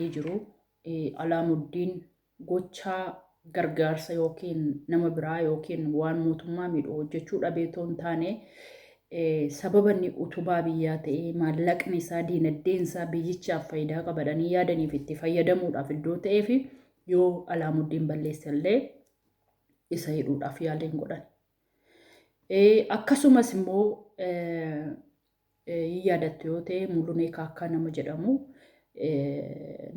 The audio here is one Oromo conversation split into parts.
hidhamanii jiru. Alaamuddiin gochaa gargaarsa yookiin nama biraa yookiin waan mootummaa miidhu hojjechuu dhabee otoo hin taane sababa inni utubaa biyyaa ta'ee maallaqni isaa diinagdeen isaa biyyichaaf faayidaa qabadhanii yaadaniif itti fayyadamuudhaaf iddoo ta'ee fi yoo alaamuddiin balleesse illee isa hidhuudhaaf yaaliin godhan. Akkasumas immoo Hin yaadattu yoo ta'e Mulunee Kaakkaa nama jedhamu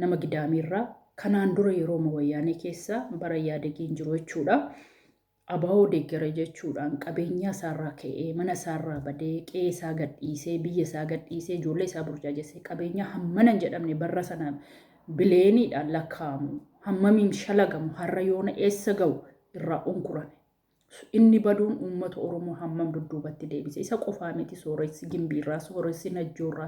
nama Gidaamiirraa kanaan dura yerooma wayyaanee keessa bara Iyyaadegiin jiru jechuudha. Abaa'oo deeggara jechuudhaan qabeenyaa isaarraa ka'ee mana isaarraa badee qe'ee isaa gadhiisee biyya isaa gadhiisee ijoollee isaa burjaajessee qabeenyaa hammana hin jedhamne barra sana bileeniidhaan lakkaa'amu hammamiin shalagamu har'a yoona eessa ga'u irraa unkurame Inni baduun uummata Oromoo hammam dudduubatti deebise? Isa qofaa miti sooressi Gimbiirraa, sooressi Najjoorraa,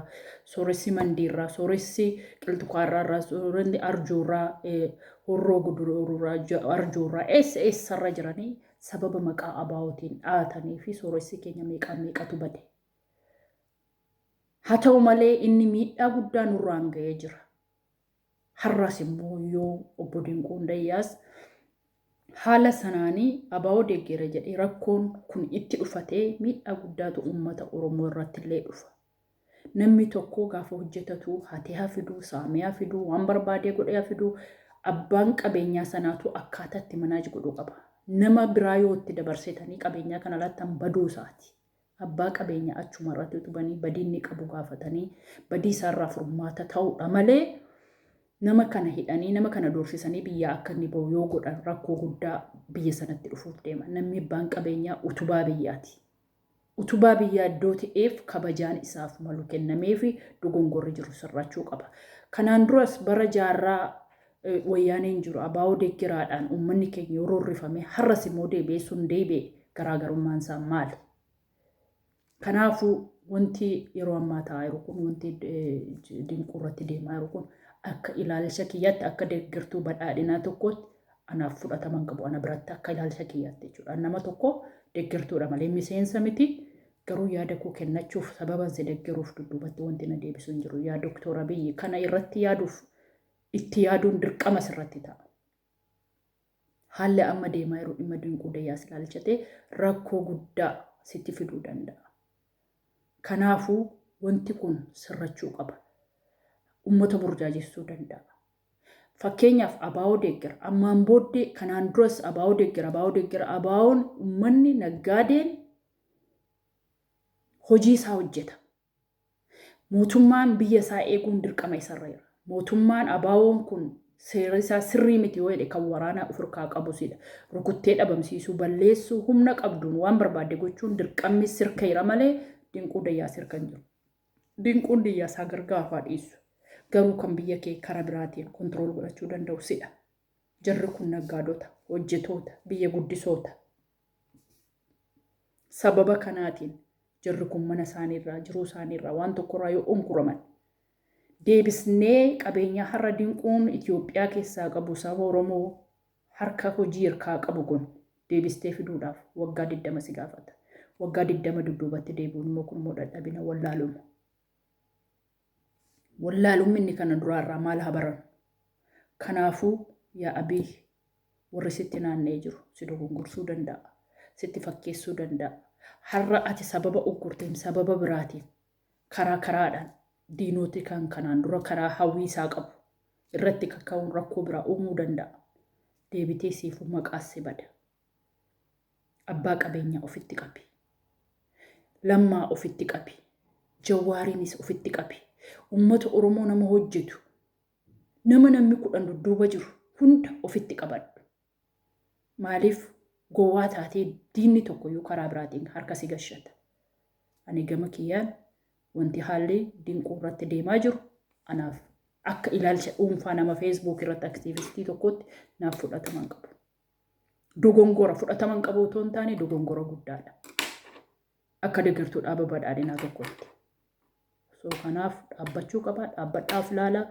sooressi Mandiirraa, sooressi Qilxukaarraarraa, sooressi Arjoorraa, Horroo Guduruurraa, Arjoorraa eessa eessarra jiranii sababa maqaa abaa'ootiin dhaatanii fi sooressi keenya meeqaan meeqatu bade. Haa ta'u malee inni miidhaa guddaa nurraan ga'ee jira. Har'aas immoo yoo obbo Dinquu Hundayyaas haala sanaanii abaa'oo deeggeera jedhee rakkoon kun itti dhufatee miidhaa guddaatu uummata Oromoo irratti illee dhufa. Namni tokko gaafa hojjetatu hatee haa fiduu, saamee haa fiduu, waan barbaadee godhee haa fiduu, abbaan qabeenyaa sanaatu akkaataa itti manaaj godhu qaba. Nama biraa yoo itti dabarsitanii qabeenyaa kana laattan baduu isaati. Abbaa qabeenyaa achuma irratti utubanii badii inni qabu gaafatanii badii isaarraa furmaata ta'uudha malee nama kana hidhanii nama kana doorsisanii biyyaa akka inni bahu yoo godhan rakkoo guddaa biyya sanatti dhufuuf deema. Namni abbaan qabeenyaa utubaa biyyaati. Utubaa biyyaa iddoo ta'eef kabajaan isaaf malu kennamee fi dogongorri jiru sirrachuu qaba. Kanaan duras bara jaarraa Wayyaaneen jiru ABO deggeraadhaan uummanni keenya yoo roorrifame har'as immoo deebi'ee sun deebi'e garaagarummaan isaa maali? Kanaafuu wanti yeroo ammaa ta'aa jiru kun wanti dinquu irratti deemaa jiru kun akka ilaalcha kiyyaatti akka deeggartuu badhaadhinaa tokkootti anaaf fudhatama hin qabu ana biratti akka ilaalcha kiyyaatti jechuudha. Nama tokko deeggartuudha malee miseensa miti garuu yaada koo kennachuuf sababan si deeggaruuf dudduubatti wanti na deebisu hin jiru. Yaa Doktor Abiyyi kana irratti yaaduuf itti yaaduun dirqama sirratti ta'a. Haalli amma deemaa jiru dhimma Dinquu Dayyaas ilaalchatee rakkoo guddaa sitti fiduu danda'a. Kanaafuu wanti kun sirrachuu qaba. Uummata burjaajessuu danda'a. Fakkeenyaaf abaa'oo deeggera. Ammaan booddee kanaan duras abaa'oo deeggera, abaa'oo deeggera, abaa'oon uummanni naggaadeen hojii isaa hojjeta. Mootummaan biyya isaa eeguun dirqama isarra jira. Mootummaan ABOn kun seera isaa sirrii miti yoo jedhe kan waraanaa of irkaa qabu sidha. Rukuttee dhabamsiisuu, balleessuu, humna qabduun waan barbaadde gochuun dirqammi sirka jira malee Dinquu Dayyaa sirka hin jiru. Dinquun Diyyaa isaa gargaaru haa dhiisu. Garuu kan biyya kee kara biraatiin control godhachuu danda'u sidha. Jarri kun naggaadota, hojjetoota, biyya guddisoota. Sababa kanaatiin jarri kun mana isaanii irraa, jiruu isaanii irraa, waan tokko irraa yoo unkuraman deebisnee qabeenyaa har'a dinquun Itoophiyaa keessaa qabu saba Oromoo harka hojii hirkaa qabu kun deebistee fiduudhaaf waggaa 20 si gaafata. Waggaa 20 dudduubatti deebi'uun immoo kun immoo dadhabina wallaaluma. Wallaalumminni kana duraa irraa maal haa barannu? Kanaafuu, yaa Abiy, warri sitti naanna'ee jiru si dogongorsuu danda'a, sitti fakkeessuu danda'a. Har'a ati sababa uggurteen, sababa biraatiin, karaa karaadhaan diinoti kan kanaan dura karaa hawwii isaa qabu irratti kaka'uun rakkoo biraa uumuu danda'a. Deebitee siifuu maqaas si bada. Abbaa qabeenyaa ofitti qabi. Lammaa ofitti qabi. Jawwaariinis ofitti qabi. Ummata Oromoo nama hojjetu, nama namni kudhan dudduuba jiru hunda ofitti qabadhu. Maaliif gowwaa taatee diinni tokkoyyuu karaa biraatiin harka si gashata. Ani gama kiyyaan wanti haalli dinquu irratti deemaa jiru anaaf akka ilaalcha dhuunfaa nama feesbuuk irratti aktiivistii tokkootti naaf fudhatama hin qabu. dogongora fudhatama hin qabu otoo hin taane dogongora guddaadha. Akka deeggartuu dhaaba badhaadhinaa tokkotti. So kanaaf dhaabbachuu qaba. Dhaabbadhaaf laala.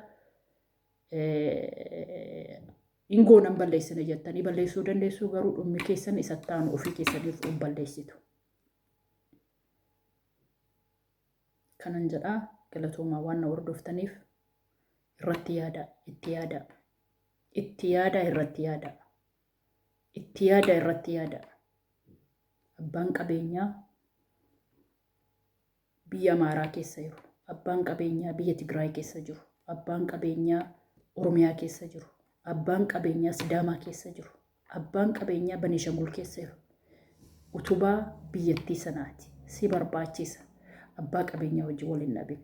Ingoo nan balleessina jettanii balleessuu dandeessuu garuu dhummi keessan isa taanu ofii keessaniif hin balleessitu. Kanan jedhaa galatoomaa waan na hordoftaniif irratti yaada itti yaada. Itti yaadaa irratti yaadaa. Itti yaadaa irratti yaadaa. Abbaan qabeenyaa biyya Amaaraa keessa jiru, abbaan qabeenyaa biyya Tigraay keessa jiru, abbaan qabeenyaa Oromiyaa keessa jiru, abbaan qabeenyaa Sidaamaa keessa jiru, abbaan qabeenyaa Baneeshangul keessa jiru. Utubaa biyyattii sanaati. Si barbaachisa. Abbaa qabeenyaa wajjin wal hin dhabin.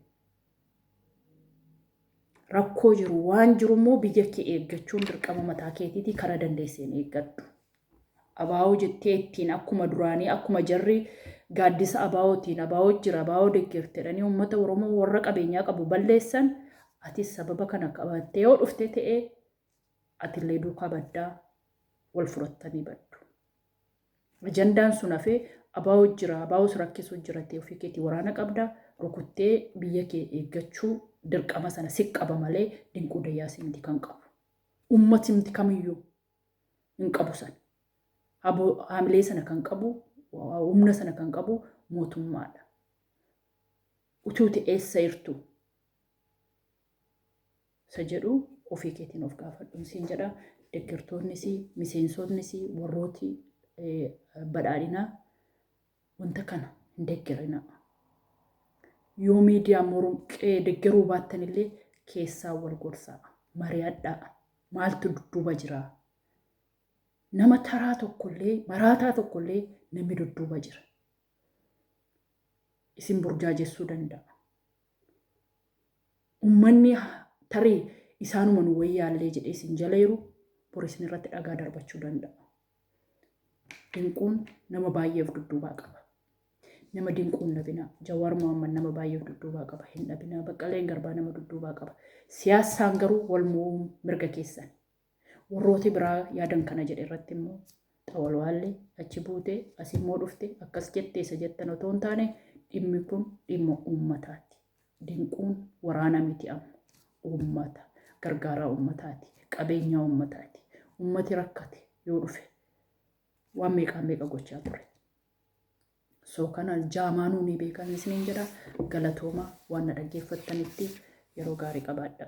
Rakkoo jiru waan jiru immoo biyya kee eeggachuun dirqama mataa keetiitii kara dandeesseen eeggadhu. Abaa'oo jettee ittiin akkuma duraanii akkuma jarri gaaddisa abaa'ootiin abaa'oo jira abaa'oo deggertedhanii uummata Oromoo warra qabeenyaa qabu balleessan atis sababa kana qabattee yoo dhufte ta'ee atillee duukaa baddaa wal furattanii baddu. Ajandaan sun hafee Abaawot jira, Abaawot si rakkisuu jira tee ofii keetii waraana qabda, rukuttee biyya kee eeggachuu dirqama sana si qaba malee Dinquu Dayyaas miti kan qabu. Uummatimti kamiyyuu hin qabu sana. Abo, haamilee sana kan qabu, humna sana kan qabu mootummaadha. Utuu te eessa irtu? isa jedhu ofii keetiin of gaafadhuun siin jedha. Deggertoonnis, miseensotnis, warrooti badhaadhinaa wanta kana hin deggerina. Yoo miidiyaa morqee deggeruu baattan illee keessaa wal gorsaa, mari'adhaa, maaltu dudduuba jira. Nama taraa tokkollee, maraataa tokkollee namni dudduuba jira. Isin burjaajessuu danda'a. Ummanni tarii isaanuma nu wayyaallee jedhee isin jala hiru, bor isin irratti dhagaa darbachuu danda'a. Dinquun nama baay'ee of dudduubaa qaba. Nama dinquu hin dhabinaa. Jawaar Mohaammed nama baay'ee of dudduubaa qaba. Hin dhabinaa. Baqqaleen Garbaa nama dudduubaa qaba. Siyaassaan garuu wal mo'uun mirga keessan. Warrooti biraa yaadan kana jedhe irratti immoo xawalwaalli achi buute as immoo dhufte akkas jette isa jettan otoo hin taane dhimmi kun dhimma uummataati. Dinquun waraana miti amma. Uummata gargaaraa uummataati. Qabeenyaa uummataati. Uummati rakkate yoo dhufe waan meeqaa meeqa gochaa ture. So kana jaamaanuu ni beekan isiniin jedha galatooma waan na dhaggeeffattanitti yeroo gaarii qabaadha.